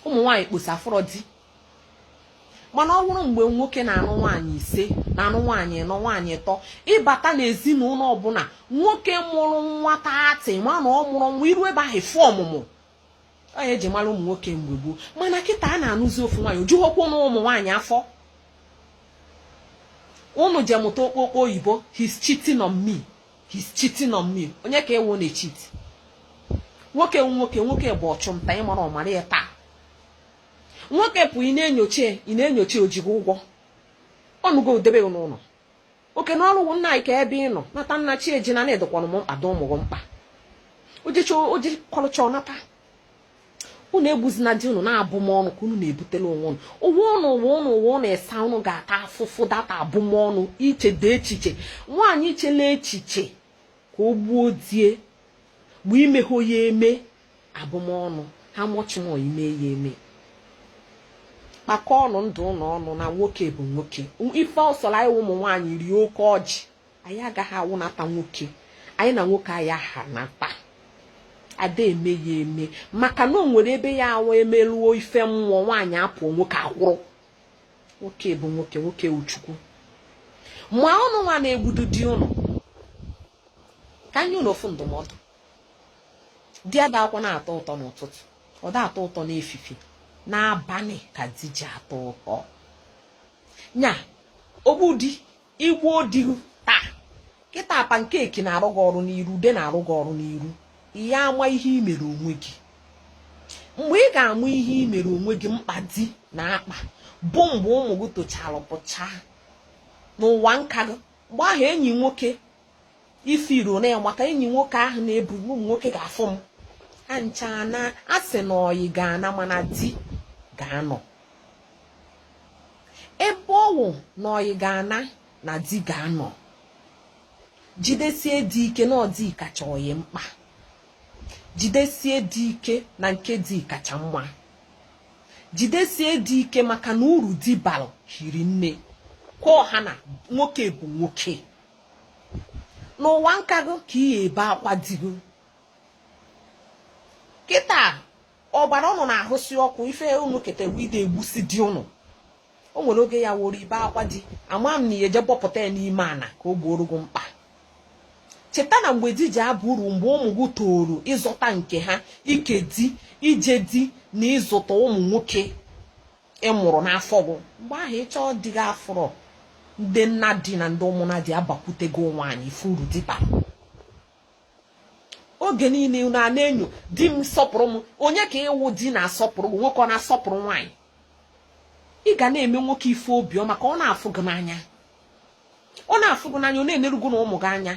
ụmụ nwaanyị kposa afụrọ di mana ọ bụrụ mgbe nwoke na-anụ nwaanyị ise na-anụ nwaanyị ịnọ nwaanyị ịtọ ị bata n'ezinụlọ ọbụla nwoke mụrụ nwa thirty ị ma na ọ mụrụ nwa i ruo ebe ahụ fụ ọmụmụ ọ nya eji mara ụmụ nwoke mgbe gboo mana kịta a na-anụzi ofu nwaanyị o jughokwu ụnụ ụmụ nwaanyị afọ ụnụ je mụta okpokpo oyibo he's cheating on me he's cheating on me onye ka ewu na-echeat nwoke nwoke nwoke bụ ọchụnta ị marọ mara ya taa nwoke pụ ị na-enyocha ị na-enyocha o ji gị ụgwọ ọ nụgo gị debe n'ụlọ oke na ọrụ nna anyị kee ebe ị nọ nata na chi ejina na ị dịkwanụ m mkpa dị ụmụ gị mkpa o jecha o je kọlụcha ọ nata unu egbuzina di unu na abụmọnụ ka unu na-ebutelu onwe unu ụwa ụnụ ụwa ụnụ ịsaa ụnụ ga-ata afụfụ da-ata abụmọnụ i chede echiche nwaanyị i chela echiche ka o gbuo di e mgbe i mehụ ya eme abụmọnụ ha mọchịmọ ime ya eme kpakọọ ọnụ ndụ ụnụ ọnụ na nwoke bụ nwoke ife ọ sọrọ anyị ụmụ nwaanyị rịa oke ọjị anyị agaghị awụnata nwoke anyị na nwoke anyị ahanata ada eme ya eme maka na o nwere ebe ya awụ emeruo ife mmụọ nwaanyị apụọ nwoke akwụrụ nwoke bụ nwoke nwoke wụ chukwu ma ụnụ nwa na-egbudu di ụnụ ka m nye ụnụ ofu ndụmọdụ di adakwanụ atọ ụtọ n'ụtụtụ ọ da atọ ụtọ n'efifi n'abalị ka di ji atọ ụtọ nya ogbudi i gbuo di taa kịta pancake na-arụ gị ọrụ n'iru ude na-arụ gị ọrụ n'iru ị ya ama ihe i mere onwe gị mgbe ị ga-ama ihe i mere onwe gị mkpa di na-akpa bụ mgbe ụmụ gị tochara pụcha n'ụwa nka gị mgbe ahụ enyi nwoke ifiro na maka enyi nwoke ahụ na-ebu ụmụ nwoke ga-afụ m ancha na a sị na ọyị ga-ana mana di ga-anọ ebe ọ wụ na ọyị ga-ana na di ga-anọ jidesie di ike na ọ di kacha ọyị mkpa jidesie di ike na nke di kacha mma jidesie di ike maka na uru di balụ hiri nne kwa ọha na nwoke bụ nwoke n'ụwa nka gị ka ị ya ebe akwa di gị kịta ọbara ụnụ na-ahụsi ọkụ ife ụnụ ketewe ide egbusi di ụnụ o nwere oge ya awụrụ i bee akwa di ama m na ị ya eje bọpụta ya n'ime ana ka o gbooro gị mkpa cheta na mgbe di ji aba uru mgbe ụmụ gị toro ịzụta nke ha ike di ije di na ịzụta ụmụ nwoke ị mụrụ n'afọ gị mgbe ahụ ị chọọ di gị afụrọ ndị nna di na ndị ụmụnna di abakwutego nwaanyị ife uru di bara oge niile unu a na-enyo di m sọpụrụ m onye ka ị wụ di na-asọpụrụ gị nwoke ọ na-asọpụrụ nwaanyị ị ga na-eme nwoke ife obiọma ka ọ na-afụ gị n'anya ọ na-afụ gị n'anya ọ na-eneru gị na ụmụ gị anya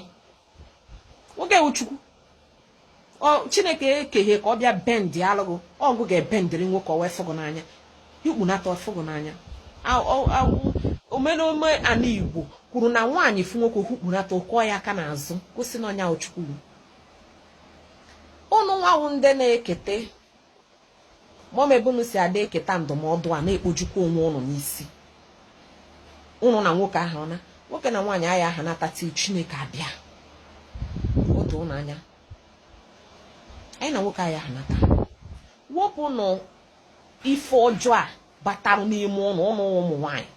nwoke wụ chukwu chineke ekeghị ka ọ bịa bend a lụ gị ọ gị ga-ebendịrị nwoke ọ wee fụ gị n'anya i hukpunata ọ fụ gị n'anya omenome ana igbo kwuru na nwaanyị fụ nwoke o hukpunata ọ kụọ ya aka n'azụ gosi na ọ nya wụ chukwu ụnụ nwa wụ ndị na-ekete mọm ebe unu si ada eketa ndụmọdụ a na-ekpojukwa onwe ụnụ n'isi ụnụ na nwoke aha na nwoke na nwaanyị aya aha nhata till chineke abịa o doo ụnụ anya anyị na nwoke aya aha nhata wepụnụ ife ọjọọ a batara n'ime ụnụ ụnụ ụmụ nwaanyị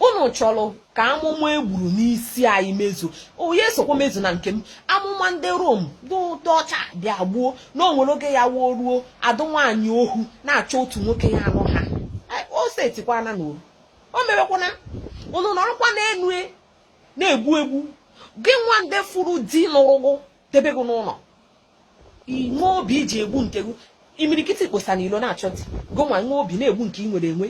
unu chọrọ ka amụma egburu n'isi anyị mezu onye sokwa mezu na nke m amụma ndị rom ndị ọcha bịa gbuo na o nwere oge ya-awụ o ruo a dị nwaanyị ohu na-achọ otu nwoke ya anụ ha o setikwana na oru o mewekwana unu nọrọkwa n'enu e, na-egbu egbu gị nwa ndị fụrụ di nụrụ gị debe gị n'ụnọ i nwe obi i ji egbu nke gị imirikiti kposa n'ilo na-achọ di gị nwa nwee obi na-egbu nke ị nwere enwe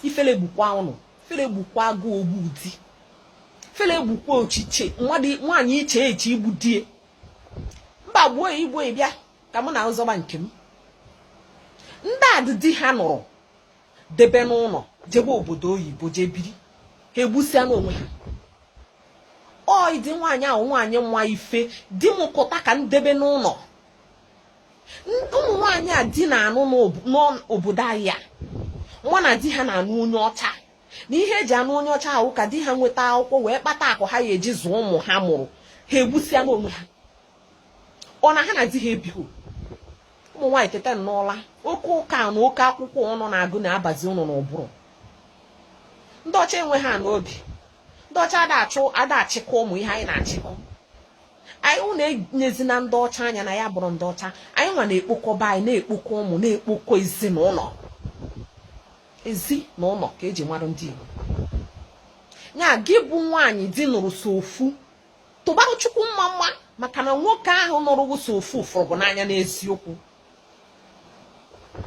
ifele gbukwa ụnụ ifele gbukwa gị ogbu di ifele gbukwa echiche nwaanyị iche eche igbu die mba gbuo i gbuo ị bịa ka mụ na ị zọba nke m ndị a di di ha nụrụ debe n'ụnọ jebe obodo oyibo jee biri ha egbusịana onwe ha ọ ị dị nwaanyị wụ nwaanyị ma ife di m kụta ka m debe n'ụnọ ụmụ nwaanyị a di na-anụ n'obodo anyị a ma na di ha na-anụ onye ọcha na ihe eji anụ onye ọcha a wụ ka di ha nweta akwụkwọ wee kpata akụ ha ya eji zụọ ụmụ ha mụrụ ha egbusịana onwe ha ọ na ha na di ha ebighị ụmụ nwaanyị tete n'ụla oke ụka na oke akwụkwọ ụnụ na-agụ na-abazi ụnụ n'ụbụrụ ndị ọcha enwe ha n'obi ndị ọcha ada achụ ada achịkọ ụmụ ihe anyị na-achịkọ anyị ụnụ enyezina ndị ọcha anya na ya bụrụ ndị ọcha anyị nwa na-ekpokọba anyị na-ekpokọ ụmụ na-ekpokọ ezinụnọ ezi na ụnọ ka eji mara ndị Igbo nya gị bụ nwaanyị di nụrụ so ofu tụbarụ chukwu mma mma maka na nwoke ahụ nụrụ gị so ọ fụ fụrụ gị n'anya n'eziokwu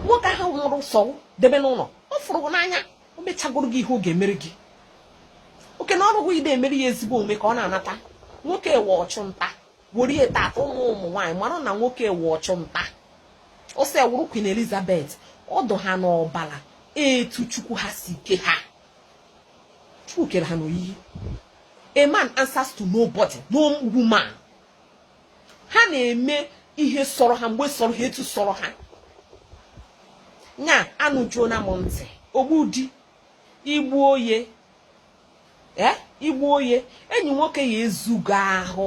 nwoke ahụ nụrụ so debe n'ụlọ ọ fụrụ gị n'anya o mechagoro gị ihe ọ ga-emere gị oke na ọrụ ide emere ya ezigbo omume ka ọ na-anata nwoke wụ ọchụ nta were ya tata ụmụ ụmụ nwaanyị mara na nwoke wụ ọchụ nta ọ sị wụrụ Queen Elizabeth ọ dụ ha n'ọbala etu chukwu ha si ke ha Chukwu kere ha n'oyiyi a man answers to nobody no woman ha na-eme ihe sọrọ ha mgbe sọrọ ha etu sọrọ ha nya anụjuona m ntị ogbu di igbu ọyị eh, igbu ọyị enyi nwoke ya ezugo ahụ